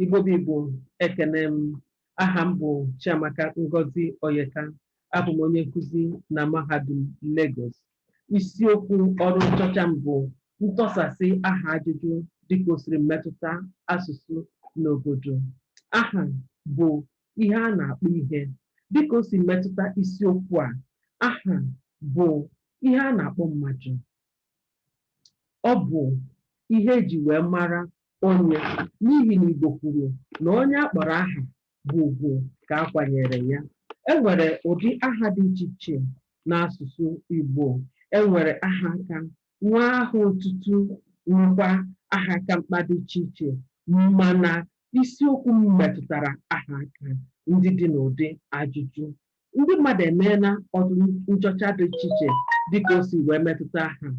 Igbo bụ Igbo ekene m aha m bụ Chiamaka Ngozi Oyeka abụ m onye nkụzi na mahadum Lagos isiokwu ọrụ nchọcha m bụ ntọsasị aha ajụjụ dịka o siri metụta asụsụ n'obodo aha bụ ihe a na-akpọ ihe dịka o si metụta isiokwu a aha bụ ihe a na-akpọ mmadụ ọ bụ ihe e ji wee mara onye n'ihi na Igbo kwuru na onye a kpọrọ aha bụ ugwu ka a kwanyere ya. E nwere ụdị aha dị iche iche n'asụsụ Igbo. E nwere aha aka, nwee aha otutu, nwekwa aha aka mkpa dị iche iche mana isiokwu m metụtara aha aka ndị dị n'ụdị ajụjụ Ndị mmadụ emeela ọrụ nchọcha dị iche iche dịka o si wee metụta aha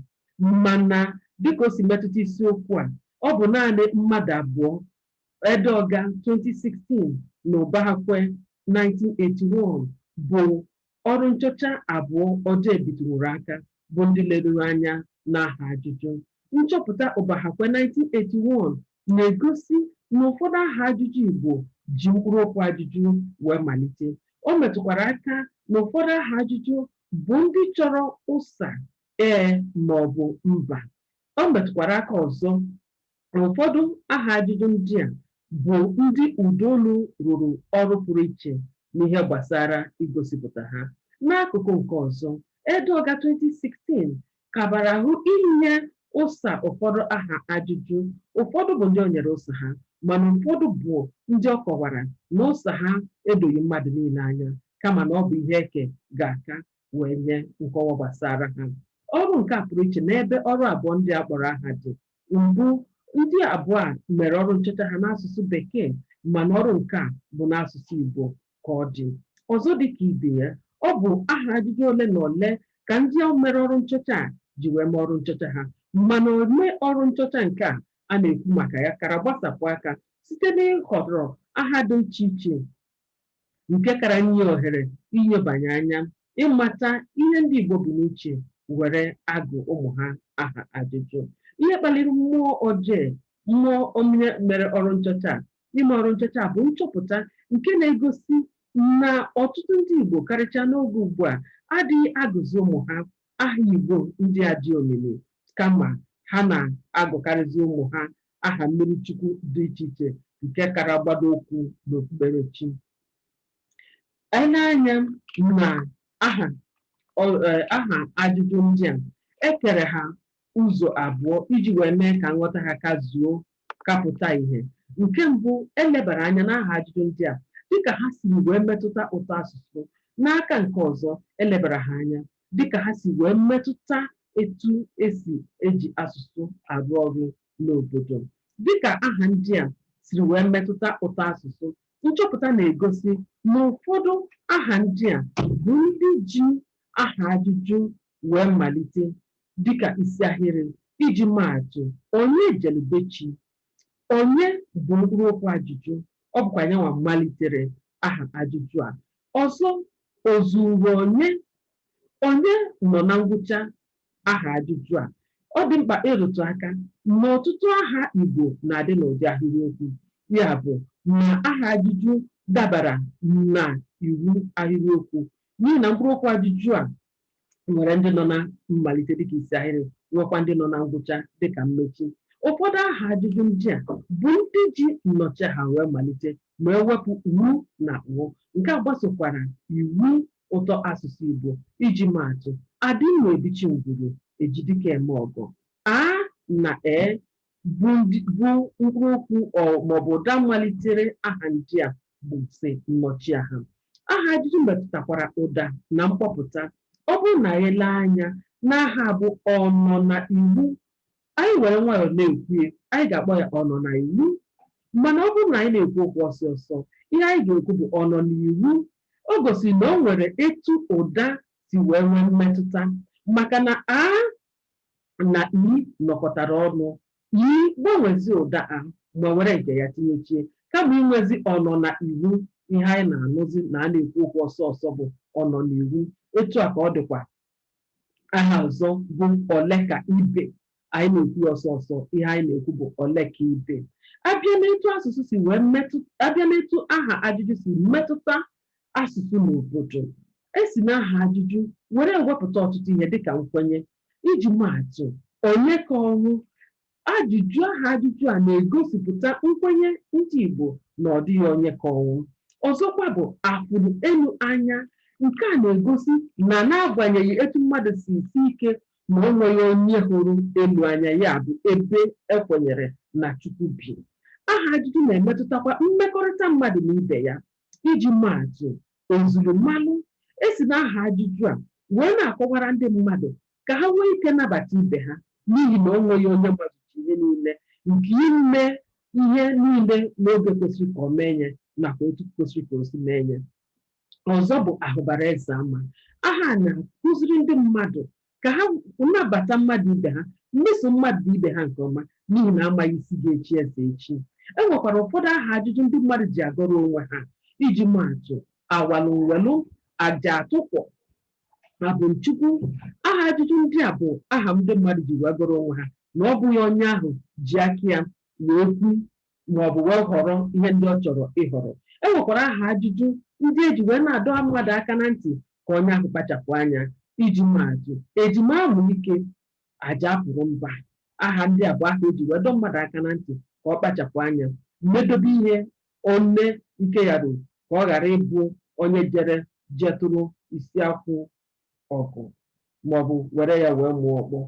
mana dịka o si metụta isiokwu a, ọ bụ naanị mmadụ abụọ, Edeoga 2016 na Ubahakwe 1981 bụ ọrụ nchọcha abụọ odee bitụnwuru aka bụ ndị leruru anya n'aha ajụjụ. Nchọpụta Ubahakwe 1981 na-egosi na ụfọdụ aha ajụjụ Igbo ji mkpụrụokwu ajụjụ wee malite. O metụkwara aka na ụfọdụ aha ajụjụ bụ ndị chọrọ ụsa, ee maọbụ mba. O metụkwara aka ọzọ Ụfọdụ aha ajụjụ ndị a bụ ndị ụdaolu rụrụ ọrụ pụrụ iche n'ihe gbasara igosipụta ha. N'akụkụ nke ọzọ, Edeoga 2016 kabara ahụ inye ụsa ụfọdụ aha ajụjụ. Ụfọdụ bụ ndị o nyere ụsa ha, mana ụfọdụ bụ ndị ọ kọwara na ụsa ha edoghị mmadụ niile anya, kama na ọ bụ ihe eke ga-aka wee nye nkọwa gbasara ha. Ọrụ nke a pụrụ iche n'ebe ọrụ abụọ ndị a kpọrọ aha dị, Mbụ, ndị abụọ a mere ọrụ nchọcha ha n'asụsụ Bekee mana ọrụ nke a bụ n'asụsụ Igbo ka ọ dị. Ọzọ dị ka ibe ya, ọ bụ aha ajụjụ ole na ole ka ndị a mere ọrụ nchọcha a ji wee mee ọrụ nchọcha ha mana ome ọrụ nchọcha nke a a na-ekwu maka ya kara gbasapụ aka site n'ịhọrọ aha dị iche iche nke kara nye ohere inyobanye anya ịmata ihe ndị Igbo bu n'uche were agụ ụmụ ha aha ajụjụ. Ihe kpaliri mmụọ odee, mmụọ onye mere ọrụ nchọcha a ime ọrụ nchọcha a bụ nchọpụta nke na-egosi na ọtụtụ ndị Igbo karịchaa n'oge ugbu a adịghị agụzi ụmụ ha aha Igbo ndị a dị omimi kama ha na-agụkarịzi ụmụ ha aha mmiri chukwu dị iche iche nke kara gbado ụkwụ n'okpukperechi e lee anya na aha aha ajụjụ ndị a e kere ha ụzọ abụọ iji wee mee ka nghọta ha ka zuo ka pụta ihe nke mbụ e lebara anya n'aha ajụjụ ndị a dịka ha siri wee metụta ụtọ asụsụ n'aka nke ọzọ e lebara ha anya dịka ha si wee metụta etu e si eji asụsụ arụ ọrụ n'obodo. Dịka aha ndị a siri wee metụta ụtọasụsụ, nchọpụta na-egosi na ụfọdụ aha ndị a bụ ndị ji aha ajụjụ wee malite dịka isiahịrị, iji maa atụ, Onye jelu be chi? Onye bụ mkpụrụokwu ajụjụ? Ọ bụkwa yanwa malitere aha ajụjụ a. Ọzọ, o zuuru onye? Onye nọ na ngwụcha aha ajụjụ a? Ọ dị mkpa ịrụtụ aka na ọtụtụ aha Igbo na-adị n'ụdị ahịrịokwu. Ya bụ na aha ajụjụ dabara na iwu ahịrịokwu n'ihi na mkpụrụokwu ajụjụ a nwere ndị nọ na mmalite dịka isi ahịrị nwekwa ndị nọ na ngwụcha dịka mmechi ụfọdụ aha ajụjụ ndị a bụ ndị ji nnọchiaha wee malite ma e wepụ u na ụ nke a gbasokwara iwu ụtọ asụsụ Igbo iji maatụ adị mma ebichi ngwuru ejidike eme ọgọ a na e bụ mkpụrụ okwu maọbụ ụda malitere aha ndị a bụsị nnọchiaha. Aha ajụjụ metụtakwara ụda na mkpọpụta. Ọ bụrụ na anyị lee anya n'aha a bụ ọnọnaiwu, anyị were nwayọọ na-ekwu ya, anyị ga-akpọ ya ọnọnaiwu. Mana ọ bụrụ na anyị na-ekwu okwu ọsọ ọsọ, ihe anyị ga-ekwu bụ ọnọnaiwu. O gosiri na o nwere etu ụda si wee nwee mmetụta maka na a na i nọkọtara ọnụ. I gbanwezie ụda a ma were nke ya tinyechie. Kama inwezi ọ nọ na iwu, ihe anyị na-anụzi na a na-ekwu okwu ọsọ ọsọ bụ ọ nọ n'iwu. Etu a ka ọ dịkwa aha ọzọ bụ ole ka ibe. Anyị na-ekwu ya ọsọ ọsọ, ihe anyị na-ekwu bụ ole ka ibe. A bịa n'etu asụsụ si wee metụ a bịa n'etu aha ajụjụ si metụta asụsụ na obodo. E si n'aha ajụjụ were ewepụta ọtụtụ ihe dịka nkwenye. Iji maa atụ, Onye ka ọnwụ? Ajụjụ aha ajụjụ a na-egosipụta nkwenye ndị Igbo na ọ dịghị onye ka ọnwụ. Ọzọkwa bụ afụrụ elu anya. Nke a na-egosi na n'agbanyeghị etu mmadụ si sie ike na o nweghị onye hụrụ elu anya, ya bụ, ebe e kwenyere na Chukwu bi. Aha ajụjụ na-emetụtakwa mmekọrịta mmadụ na ibe ya. Iji maa atụ, ozuru mmalụ e si n'aha ajụjụ a wee na-akọwara ndị mmadụ ka ha nwee ike nabata ibe ha n'ihi na o nweghị onye mazucha ihe niile nke ime ihe niile n'oge kwesiri ka o mee ya nakwa otu kwesiri ka o si mee ya. Ọzọ bụ ahụbara eze ama. Aha a na-akuziri ndị mmadụ ka ha nabata mmadụ ibe ha, meso mmadụ ibe ha nke ọma, n'ihi na amaghị isi ga-echi eze echi. E nwekwara ụfọdụ aha ajụjụ ndị mmadụ ji agọrọ onwe ha. Iji maa atụ, awalụ nwelụ, aja atụkwọ, abụ m Chukwu. Aha ajụjụ ndị a bụ aha ndị mmadụ ji wee gọrọ onwe ha na ọ bụghị onye ahụ ji aka ya wee kpụ ma ọ bụ wee họrọ ihe ndị ọ chọrọ ịhọrọ. E nwekwara aha ajụjụ ndị e ji wee na-adọ mmadụ aka na ntị ka onye ahụ kpachapụ anya. Iji maa atụ, E ji m amụ ike, aja apụrụ mba. Aha ndị a bụ aha e ji wee dọ mmadụ aka na ntị ka ọ kpachapụ anya, medobe ihe one ike ya ruru ka ọ ghara ịbụ onye jere jetụrụ isi akwụ ọgụ ma ọ bụ were ya wee mụọ ọkpọ.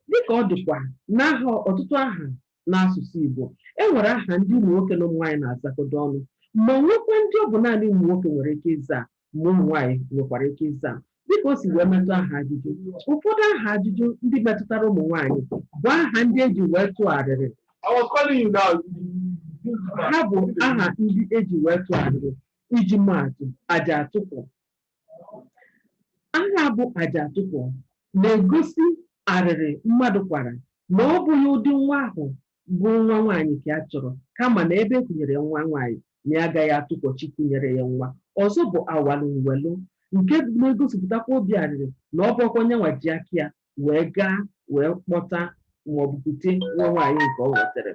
Dị ka ọ dịkwa n'aha ọtụtụ aha n'asụsụ Igbo, e nwere aha ndị ụmụ nwoke na ụmụ nwaanyị na-azakọdo ọnụ ma nwekwa ndị ọ bụ naanị ụmụ nwoke nwere ike ịza ma ụmụ nwaanyị nwekwara ike ịza dịka o si wee metụ aha ajụjụ ụfọdụ aha ajụjụ ndị metụtara ụmụ nwaanyị bụ aha ndị eji wee tụgharịrị ha bụ aha ndị eji wee tụọ arịrị iji maatụ aja atụkwọ Aha bụ aja atụkwọ na-egosi arịrị mmadụ kwara na ọ bụghị ụdị nwa ahụ bụ nwa nwaanyị ka ya chọrọ kama na ebe e kunyere ya nwa nwaanyị na ya agaghị atụkwọ chi kunyere ya nwa. Ọzọ bụ awalụ nwelụ nke na-egosipụtakwa obi arịrị na ọ bụghịkwa nyanwa ji aka ya wee gaa wee kpọta maọbụ kute nwa nwaanyị nke ọ nwetere.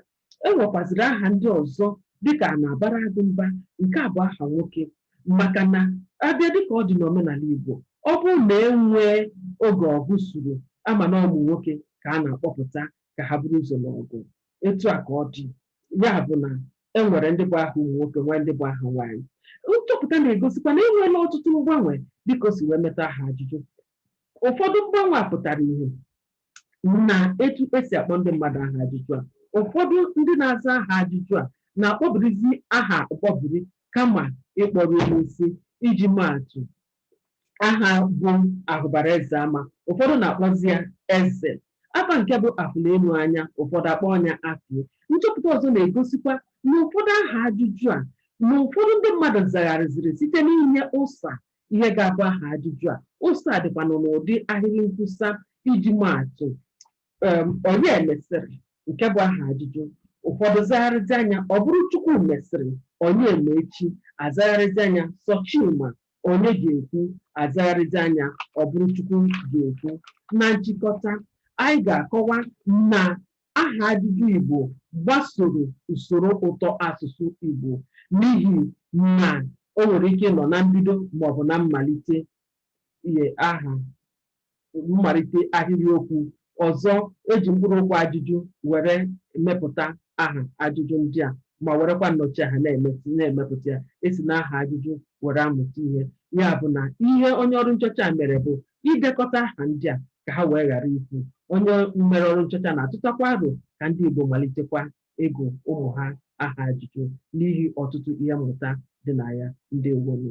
E nwekwazịrị aha ndị ọzọ dịka a na-abara agụ mba, nke a bụ aha nwoke maka na a bịa dịka ọ dị n'omenala Igbo, ọ bụrụ na e nwee oge ọgụ suru, a ma na ọ bụ nwoke ka a na-akpọpụta ka ha buru ụzọ n'ọgụ. Etu a ka ọ dị. Ya bụ na e nwere ndị bụ aha ụmụ nwoke, nwee ndị bụ aha nwaanyị. Nchọpụta na-egosikwa na e nweela ọtụtụ mgbanwe dịka o si wee metụ aha ajụjụ. ụfọdụ mgbanwe a pụtara ihe n'etu esi akpọ ndị mmadụ aha ajụjụ a ụfọdụ ndị na-aza aha ajụjụ a na-akpọbirizi aha mkpọbiri kama ịkpọru ya isi iji maatụ aha bụ ahụbara eze ama ụfọdụ na-akpọzi ya eze afa nke bụ afụlụ enu anya ụfọdụ akpọọ nya afụ nchọpụta ọzọ na-egosikwa na ụfọdụ aha ajụjụ a na ụfọdụ ndị mmadụ zagharịziri site n'inye ụsa Ihe ga-abụ aha ajụjụ a. Ụsa a dịkwanụ n'ụdị ahịrị nkwusa iji maa atụ um Onye mesịrị? nke bụ aha ajụjụ. Ụfọdụ zagharịzia ya ọ bụrụ Chukwu mesịrị, Onye ma echi? a zagharịzia ya sọ Chima, Onye ga-ekwu? a zagharịzia ya ọ bụrụ Chukwu ga-ekwu. Na nchịkọta, anyị ga-akọwa na aha ajụjụ Igbo gbasoro usoro ụtọ asụsụ Igbo n'ihi na o nwere ike ịnọ na mbido maọbụ na mmalite e aha mmalite ahịrịokwu. Ọzọ, e ji mkpụrụokwu ajụjụ were emepụta aha ajụjụ ndị a ma werekwa nnọchiaha na-emesi na-emepụta ya. E si n'aha ajụjụ were amụta ihe. Ya bụ na ihe onye ọrụ nchọcha a mere bụ idekọta aha ndị a ka ha wee ghara ifu. Onye mere ọrụ nchọcha na-atụtakwa aro ka ndị Igbo malitekwa ịgụ ụmụ ha aha ajụjụ n'ihi ọtụtụ ihe mmụta dị na ya. Ndewonu.